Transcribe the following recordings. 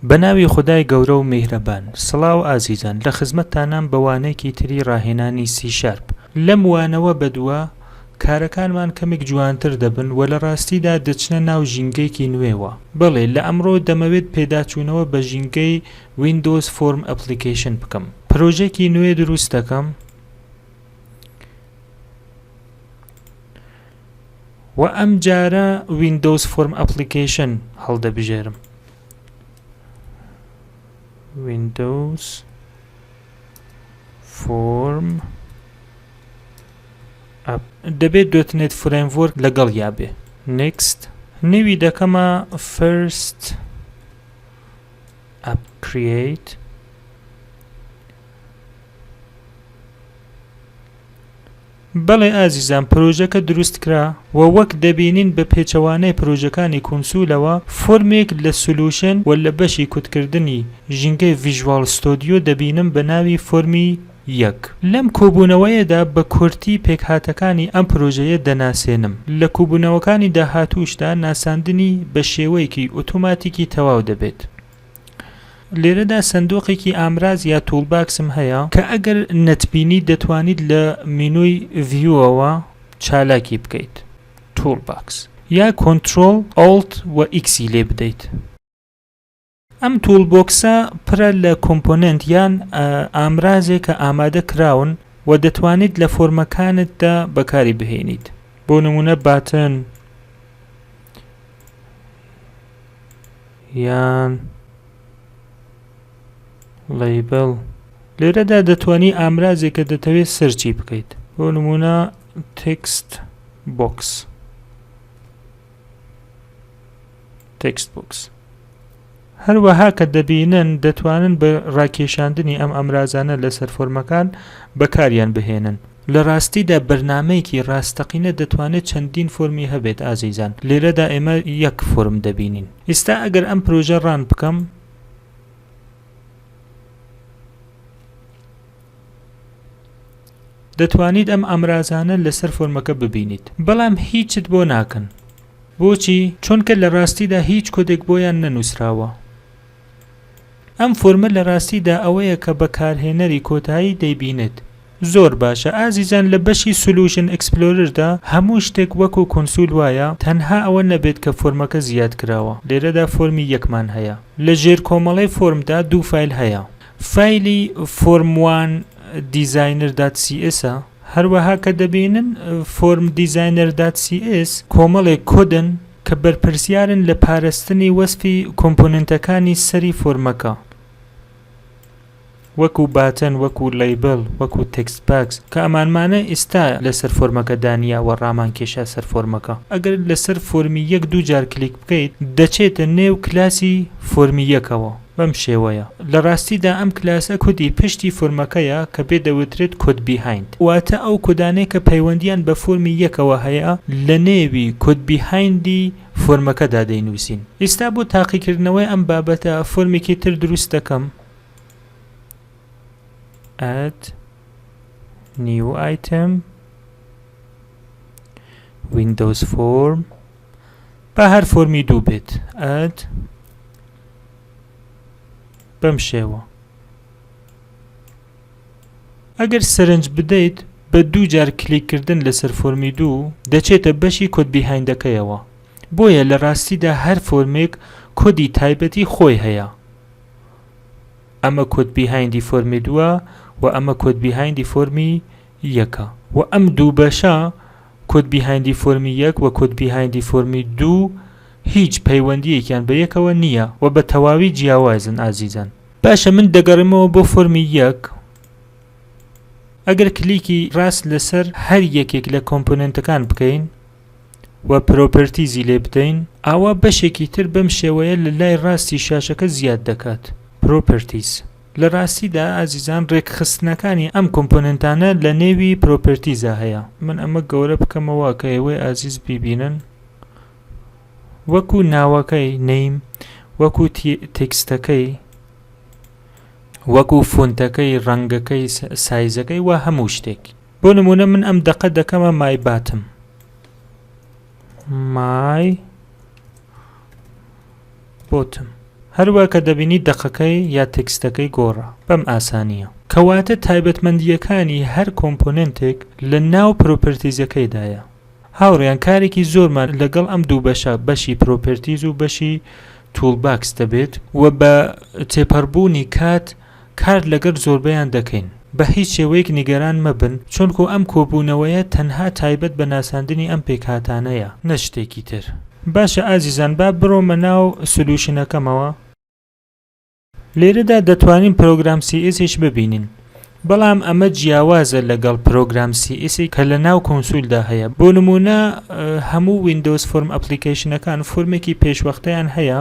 بەناوی خودای گەورە و میهرەبان. سڵاو ئازیزان لە خزمەتتانام بە وانەیەکی تری ڕاهێنانی سی شارپ. لەم وانەوە بەدوا کارەکانمان کەمێک جوانتر دەبن و لە ڕاستیدا دەچنە ناو ژینگەیەکی نوێوە. بەڵێ لە ئەمڕۆ دەمەوێت پێداچوونەوە بە ژینگەی Windows Form Application بکەم. پرۆژەکی نوێ دروست دەکەم. وە ئەم جارە ویندۆز فۆرم ئەپڵیکەیشن هەڵدەبژێرم ویندۆز فۆرم دەبێت دۆتنێت فرەیمڤۆرک لەگەڵ یا بێ نکست نوی دەکەمە فرست ئەپ کریت بەڵێ ئازیزان پرۆژەکە دروستکرا و وەک دەبینین بە پێچەوانەی پرۆژەکانی کونسولەوە فۆرمێک لە سولوشن و لە بەشی کوتکردنی ژینگەی ڤیژواڵ ستۆدیۆ دەبینم بە ناوی فۆرمی یەک. لەم کۆبوونەوەیەدا بە کورتی پێکهاتەکانی ئەم پرۆژەیە دەناسێنم. لە کوبوونەوەکانی داهاتووشدا ناساندنی بە شێوەیەکی ئوتوماتیکی تەواو دەبێت. لێرەدا سەندوقێکی ئامراز یا تولباکسم هەیە کە ئەگەر نەتبینی دەتوانیت لە مینۆی ڤیوەوە چالاکی بکەیت تولباکس یا کۆنترۆل ئالت و ئیکسی لێ بدەیت ئەم توول بۆکسە پرە لە کۆمپۆننت یان ئامرازێک کە ئامادە کراون و دەتوانیت لە فۆرمەکانتدا بەکاری بهێنیت بۆ نمونە باتن یان لەیبل لێرەدا دەتوانی ئامرازێک کە دەتەوێت سەرچی بکەیت بۆ نمونە تکست بۆکس تکست بۆکس هەروەها کە دەبینن دەتوانن بە ڕاکێشاندنی ئەم ئامرازانە لەسەر فۆرمەکان بەکاریان بهێنن. لە ڕاستیدا بەرنامەیەکی ڕاستەقینە دەتوانێت چەندین فۆرمی هەبێت ئازیزان لێرەدا ئێمە یەک فۆرم دەبینین ئیستا ئەگەر ئەم پرۆژە ڕان بکەم. دەتوانیت ئەم ئامرازانە لەسەر فۆرمەکە ببینیت بەڵام هیچت بۆ ناکەن بۆچی چونکە لە ڕاستیدا هیچ کۆدێک بۆیان نەنوسراوە ئەم فۆرمە لە ڕاستیدا ئەوەیە کە بەکارهێنەری کۆتایی دەیبینێت. زۆر باشە ئازیزان لە بەشی سولوشن ئێکسپلۆرردا هەموو شتێک وەکو کونسول وایە تەنها ئەوە نەبێت کە فۆرمەکە زیاد کراوە لێرەدا فۆرمی یەکمان هەیە لە ژێر کۆمەڵەی فۆرمدا دوو فایل هەیە فایلی فۆرم وان دیزاینەر دات سی ئێسە هەروەها کە دەبینن فۆرم دیزاینەر دات سی ئێس کۆمەڵێک کۆدن کە بەرپرسیارن لە پارستنی وەسفی کۆمپۆننتەکانی سەری فۆرمەکە وەکو باتن وەکو لەیبل وەکو تێکست باکس کە ئەمانمانە ئیستا لەسەر فۆرمەکە دانیا وە ڕامان کێشا سەر فۆرمەکە ئەگەر لەسەر فۆرمی یەک دوو جار کلیک بکەیت دەچێتە نێو کلاسی فۆرمی یەکەوە بەم شێوەیە لە ڕاستیدا ئەم کلاسە کودی پشتی فۆرمەکەیە کە پێ دەوترێت کۆد بیهایند واتە ئەو کۆدانەی کە پەیوەندییان بە فۆرمی یەکەوە هەیە لە نێوی کۆد بیهایندی فۆرمەکەدا دەینووسین ئیستا بۆ تاقیکردنەوەی ئەم بابەتە فۆرمێکی تر دروست دەکەم add new item windows form با هەر فۆرمی دوو بێت add بەم شێوە ئەگەر سەرنج بدەیت بە دوو جار کلیکردن لەسەر فۆرمی دوو دەچێتە بەشی کۆد بیهایندەکەیەوە بۆیە لە ڕاستیدا هەر فۆرمێک کۆدی تایبەتی خۆی هەیە ئەمە کۆد بیهایندی فۆرمی دووە و ئەمە کۆد بیهایندی فۆرمی یەکە و ئەم دوو بەشە کۆد بیهایندی فۆرمی یەک و کۆد بیهایندی فۆرمی دوو هیچ پەیوەندیەکیان بە یەکەوە نییە و بە تەواوی جیاوازن ئازیزان. باشە من دەگەڕێمەوە بۆ فۆرمی یەک ئەگەر کلیکی ڕاست لەسەر هەر یەکێک لە کۆمپۆنێنتەکان بکەین و پرۆپەرتیزی لێ بدەین ئاوا بەشێکی تر بەم شێوەیە لە لای ڕاستی شاشەکە زیاد دەکات Properties. لە ڕاستیدا ئازیزان ڕێکخستنەکانی ئەم کۆمپۆنێنتانە لە نێوی پرۆپێرتیزا هەیە من ئەمە گەورە بکەمەوە کە ئێوەی ئازیز بیبینن وەکو ناوەکەی نیم وەکو تێکستەکەی وەکو فۆنتەکەی ڕەنگەکەی سایزەکەی و هەموو شتێک بۆ نمونە من ئەم دەقە دەکەمە مای باتم my bottom هەروە کە دەبینی دەقەکەی یا تێکستەکەی گۆڕا بەم ئاسانیە کەواتە تایبەتمەندیەکانی هەر کۆمپۆننتێک لە ناو پرۆپرتیزەکەیدایە هاوڕیان کارێکی زۆرمان لەگەڵ ئەم دوو بەشە بەشی پرۆپرتیز و بەشی تول باکس دەبێت و بە تێپەڕبوونی کات کار لەگەر زۆربەیان دەکەین. بە هیچ شێوەیەک نیگەران مەبن چونکوو ئەم کۆبوونەوەیە تەنها تایبەت بە ناساندنی ئەم پێکهاتانەیە نە شتێکی تر. باشە ئازیزان با برۆمە ناو سلوشنەکەمەوە. لێرەدا دەتوانین پرۆگرام سی ئیس یش ببینین بەڵام ئەمە جیاوازە لەگەڵ پرۆگرام سی ئیس کە لە ناو کونسولدا هەیە بۆ نموونە هەموو ویندۆز فۆرم ئەپلیکەیشنەکان فۆرمێکی پێشوەختەیان هەیە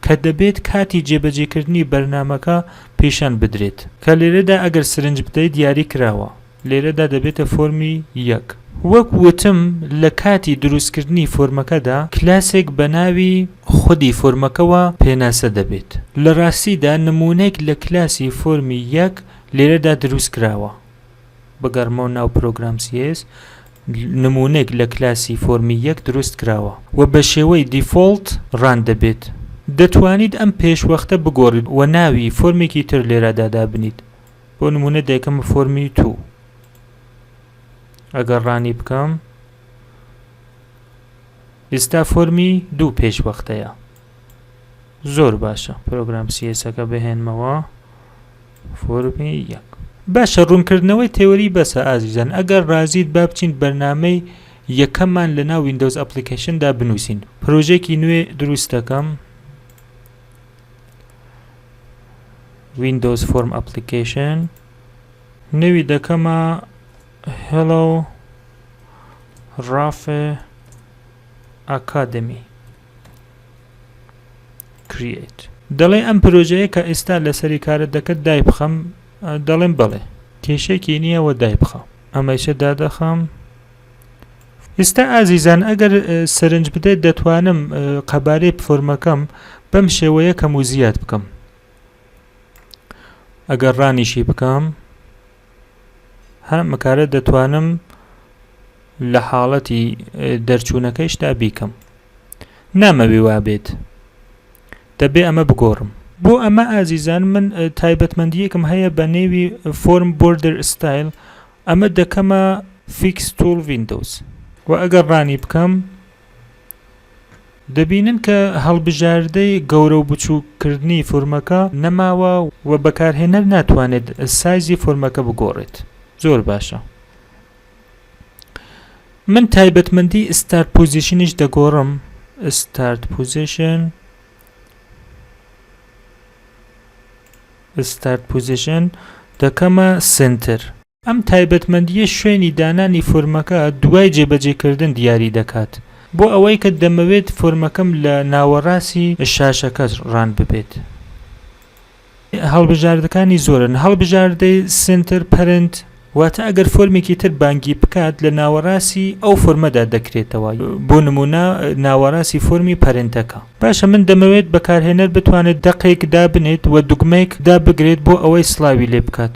کە دەبێت کاتی جێبەجێکردنی بەرنامەکە پیشان بدرێت، کە لێرەدا ئەگەر سرنج بدەیت دیاری کراوە، لێرەدا دەبێتە فۆرمی یەک. وەک وتم لە کاتی دروستکردنی فۆرمەکەدا کلاسێک بە ناوی خودی فۆرمەکەوە پێناسە دەبێت، لە ڕاستیدا نموونەێک لە کلاسی فۆرمی یەک لێرەدا دروست کراوە. بگەڕمەوە ناو پرۆگرام CS نمونەێک لە کلاسی فۆرمی یەک دروست کراوە و بە شێوەی دیفۆڵت ڕان دەبێت دەتوانیت ئەم پێشوەختە بگۆڕیت و ناوی فۆرمێکی تر لێرەدا دابنیت بۆ نمونە دەکەمە فۆرمی تو ئەگەر ڕانی بکەم ئێستا فۆرمی دوو پێشوەختەیە زۆر باشە پرۆگرام سیەسەکە بهێنمەوە فۆرمی یەک. باشە ڕوونکردنەوەی تێۆری بەسە ئازیزان ئەگەر ڕازیت با بچین بەرنامەی یەکەممان لەناو ویندۆز ئەپڵیکەیشندا بنووسین پرۆژەێکی نوێ دروست دەکەم ویندۆز فۆرم ئەپڵیکەیشن نەوی دەکەمە هێڵۆ ڕافێ ئاکادمی Create. دەڵێ ئەم پرۆژەیە کە ئێستا لەسەری کارت دەکرد دایبخەم دەڵێم بڵێ کێشێکی نییە وە دایبخە ئەمەیشە دادەخەم ئێستا ئازیزان ئەگەر سەرنج بدەیت دەتوانم قەبارەی فۆرمەکەم بەم شێوەیە کەم و زیاد بکەم ئەگەر ڕانیشی بکەم هەم ئەکارە دەتوانم لە حاڵەتی دەرچوونەکەیشدا بیکەم نامەوێ وابێت دەبێ ئەمە بگۆڕم بۆ ئەمە ئازیزان من تایبەتمەندیەکم هەیە بە نێوی فۆرم بردر ستایل ئەمە دەکەمە فیکس تول وینندۆز و ئەگەر ڕانی بکەم دەبینن کە هەڵبژاردەی گەورە و بچووک کردنی فۆرمەکە نەماوە و بەکارهێنەر ناتوانێت سایزی فۆرمەکە بگۆڕێت زۆر باشە من تایبەتمەندی ستارت پوزیشنیش دەگۆڕم ستارت پوزیشن ستارت پوزیشن دەکەمە سنتر. ئەم تایبەتمەندییە شوێنی دانانی فۆرمەکە دوای جێبەجێکردن دیاری دەکات. بۆ ئەوەی کە دەمەوێت فۆرمەکەم لە ناوەڕاستی شاشەکە ڕان ببێت. هەڵبژاردەکانی زۆرن، هەڵبژاردەی Center Parent، واتە ئەگەر فۆرمێکی تر بانگی بکات لە ناوەڕاستی ئەو فۆرمەدا دەکرێتەوە، بۆ نموونە ناوەڕاستی فۆرمی پەرنتەکە. باشە من دەمەوێت بەکارهێنەر بتوانێت دەقێک دابنێت و دوگمەیەک دابگرێت بۆ ئەوەی سڵاوی لێ بکات.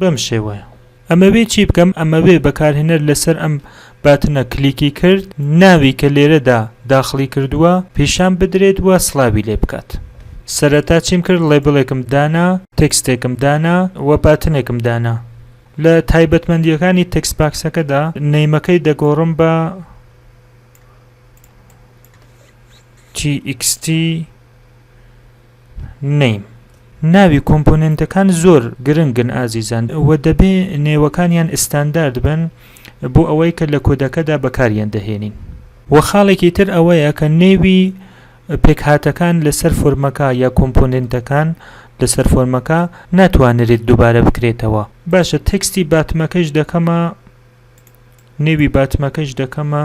بەم شێوەیە ئەمەوێ چی بکەم؟ ئەمەوێ بەکارهێنەر لەسەر ئەم باتنە کلیکی کرد ناوی کە لێرەدا داخڵی کردووە پیشان بدرێت و سڵاوی لێ بکات. سەرەتا چیم کرد ڵێبڵێکم دانا، تێکستێکم دانا و باتنێکم دانا. لە تایبەتمەندییەکانی تێکست باکسەکەدا نەیمەکەی دەگۆڕم بە txt. نیم. ناوی کۆمپۆنێنتەکان زۆر گرنگن ئازیزان و دەبێ نێوەکانیان ئستاندارد بن بۆ ئەوەی کە لە کۆدەکەدا بەکاریان دەهێنین. وە خاڵێکی تر ئەوەیە کە نێوی پێکهاتەکان لەسەر فۆرمەکە یا کۆمپۆنێنتەکان لەسەر فۆرمەکە ناتوانرێت دوبارە بکرێتەوە. باشە تێکستی باتمەکەیش دەکەمە نێوی باتمەکەیش دەکەمە.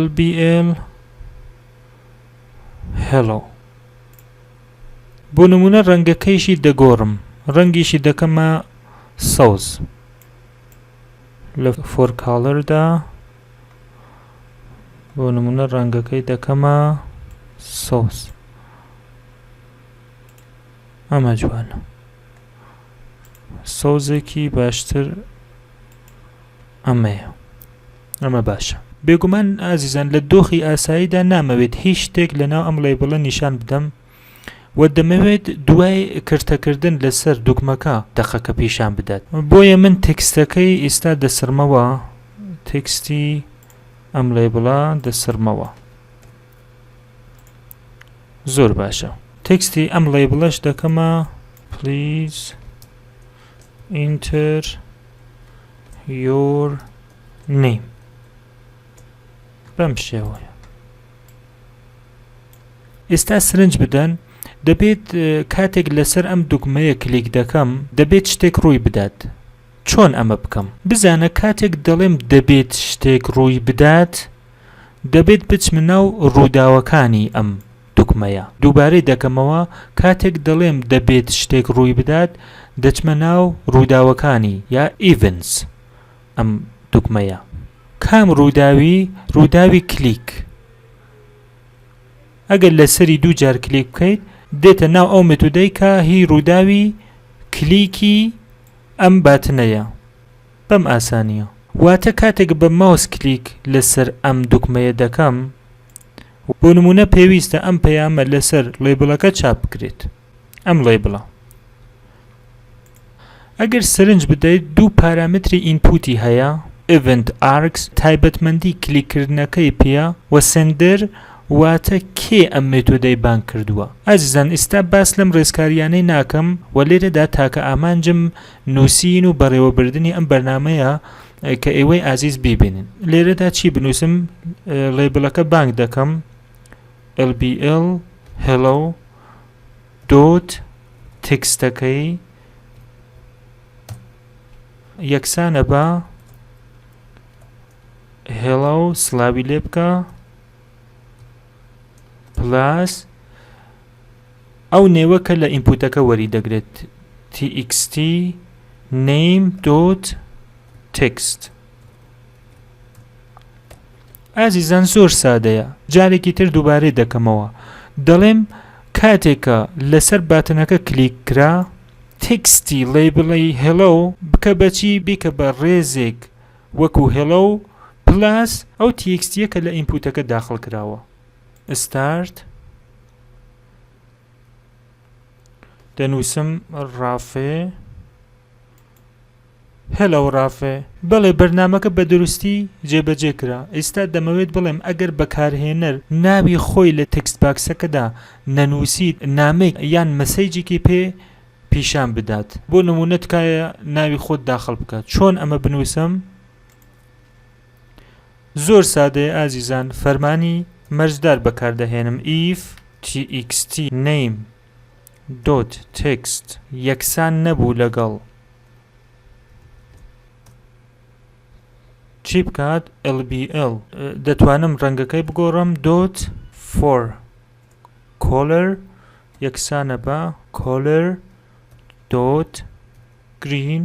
LBL Hello بۆ نمونە ڕەنگەکەیشی دەگۆڕم ڕەنگیشی دەکەمە سەوز لە فۆرکاڵەردا بۆ نمونە ڕەنگەکەی دەکەمە سەوز ئەمە جوانە سەوزێکی باشتر ئەمەیە ئەمە باشە. بێگومان ئازیزان لە دۆخی ئاساییدا نامەوێت هیچ شتێک لەناو ئەم ڵەیبڵە نیشان بدەم و دەمەوێت دوای کرتەکردن لەسەر دوگمەکە دەقەکە پیشان بدات بۆیە من تێکستەکەی ئیستا دەسڕمەوە تێکستی ئەم ڵەیبڵە دەسڕمەوە زۆر باشە تێکستی ئەم ڵەیبڵەش دەکەمە پلیز enter your name بەم شێوەیە ئێستا سرنج بدەن دەبێت کاتێک لەسەر ئەم دوگمەیە کلیک دەکەم دەبێت شتێک ڕووی بدات چۆن ئەمە بکەم بزانە کاتێک دەڵێم دەبێت شتێک ڕووی بدات دەبێت بچمە ناو ڕووداوەکانی ئەم دوگمەیە. دووبارەی دەکەمەوە، کاتێک دەڵێم دەبێت شتێک ڕووی بدات، دەچمە ناو ڕووداوەکانی یا Events ئەم دوگمەیە. کام ڕووداوی؟ ڕووداوی کلیک. ئەگەر لەسەری دوو جار کلیک بکەیت، دێتە ناو ئەو مێتودەی کە هی ڕووداوی کلیکی ئەم باتنەیە. بەم ئاسانییە. واتە کاتێک بە ماوس کلیک لەسەر ئەم دوگمەیە دەکەم، بۆ نموونە پێویستە ئەم پەیامە لەسەر ڵێبڵەکە چاپ بکرێت ئەم ڵێبڵە ئەگەر سەرنج بدەیت دوو پارامتری ئینپوتی هەیە ئڤنت ئارکس تایبەتمەندی کلیکردنەکەی پێە و سندر واتە کێ ئەم مێتۆدەی بانگ کردووە ئازیزان ئیستا باس لەم ڕێزکاریانەی ناکەم و لێرەدا تاکە ئامانجم نووسین و بەڕێوەبردنی ئەم بەرنامەیە کە ئێوەی ئازیز بیبینن لێرەدا چی بنووسم لەیبلەکە بانک دەکەم LBL hello دۆت تکستەکەی یەکسانە بە هێڵا و سلاوی لێ بکە پلاس ئەو نێوە کە لە ئینپوتەکە وەری دەگرێت txt name.txt ئازیزان زۆر سادەیە جارێکی تر دووبارەی دەکەمەوە دەڵێم کاتێک کە لەسەر باتنەکە کلیک کرا txt ڵێی بڵێ hello بکە بە چی بیکە بە ڕێزێک وەکو hello پلاس ئەو txt یە کە لە ئینپوتەکە داخڵ کراوە ستارت دەنووسم ڕافێ هەلە و ڕافێ بەڵێ بەرنمەکە بە دروستی جێبەجێ کرا ئێستا دەمەوێت بڵێم ئەگەر بەکارهێنەر ناوی خۆی لە تکست باکسەکەدا نەنووسیت نامێک یان مەسەیجێکی پێ پیشان بدات بۆ نمونە تکایە ناوی خۆت داخل بکە چۆن ئەمە بنووسم؟ زۆر سادەیە ئازیزان فەرمانی مەرجدار بەکاردەهێنم if txt name dot text یەکسان نەبوو لەگەڵ چی بکات lbl دەتوانم ڕەنگەکەی بگۆڕم dot for color یەکسانە بە color dot green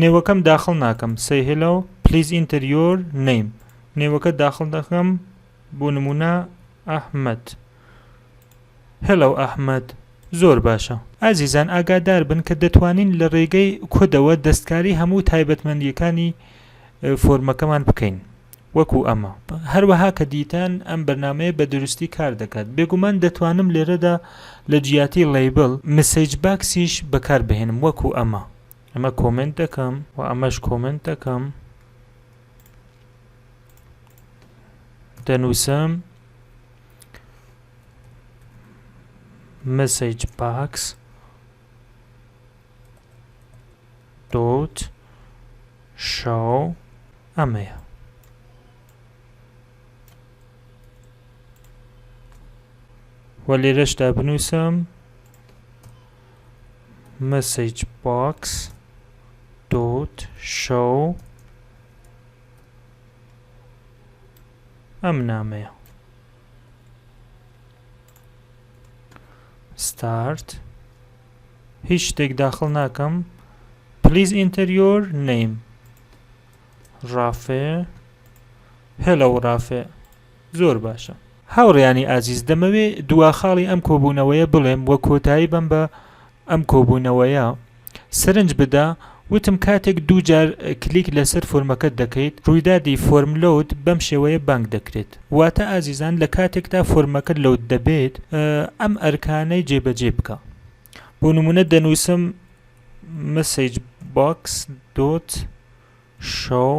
نێوەکەم داخڵ ناکەم سەی هێلۆ پلیز ئینتەر یۆر نەیم نێوەکە داخڵ دەکەم بۆ نمونە ئەحمد هێلو ئەحمد زۆر باشە ئازیزان ئاگادار بن کە دەتوانین لە ڕێگەی کۆدەوە دەستکاری هەموو تایبەتمەندیەکانی فۆرمەکەمان بکەین وەکو ئەمە. هەروەها کە دیتان ئەم بەرنامەیە بە دروستی کار دەکات، بێگومان دەتوانم لێرەدا لە جیاتی لەیبڵ، مسەیج باکسیش بەکار بهێنم وەکو ئەمە. ئەمە کۆمێنت دەکەم و ئەمەش کۆمێنت دەکەم. دەنووسم مسەیج باکس. دوت شەو ئەمەیە. وە لێرەشدا بنووسم مسج باکس دوت شەو ئەم نامەیە ستارت هیچ شتێک داخل ناکەم پلیز ئینتەر یۆر نەیم ڕافێ هێلە و ڕافێ زۆر باشە هاوڕیانی ئازیز دەمەوێ دوا خاڵی ئەم کۆبوونەوەیە بڵێم وە کۆتایی بم بە ئەم کۆبوونەوەیە سرنج بدە وتم کاتێک دوو جار کلیک لەسەر فۆرمەکەت دەکەیت ڕویدادی فۆرم لۆد بەم شێوەیە بانگ دەکرێت واتە ئازیزان لە کاتێکدا فۆرمەکە لۆد دەبێت ئەم ئەرکانەی جێبەجێ بکە بۆ نمونە دەنوسم مسج باکس دۆت شۆو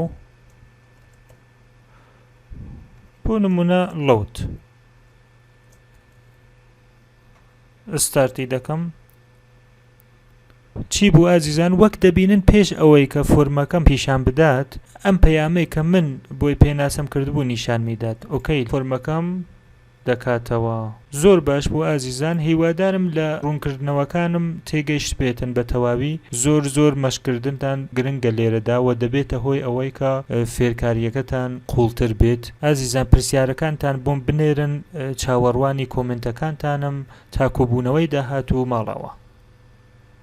بۆ نمونە لۆد ستارتی دەکەم چی بوو ئازیزان وەک دەبینن پێش ئەوەی کە فۆرمەکەم پیشان بدات ئەم پەیامەی کە من بۆی پێناسەم کردبوو نیشانمی دات ئۆکەی فۆرمەکەم دەکاتەوە زۆر باش بوو ئازیزان هیوادارم لە ڕوونکردنەوەکانم تێگەشتبێتن بە تەواوی زۆر زۆر مەشقکردنتان گرنگە لێرەدا وە دەبێتە هۆی ئەوەی کە فێرکاریەکەتان قوڵتر بێت. ئازیزان پرسیارەکانتان بۆم بنێرن چاوەڕوانی کۆمێنتەکانتانم تا کۆبوونەوەی داهاتوو ماڵەوە.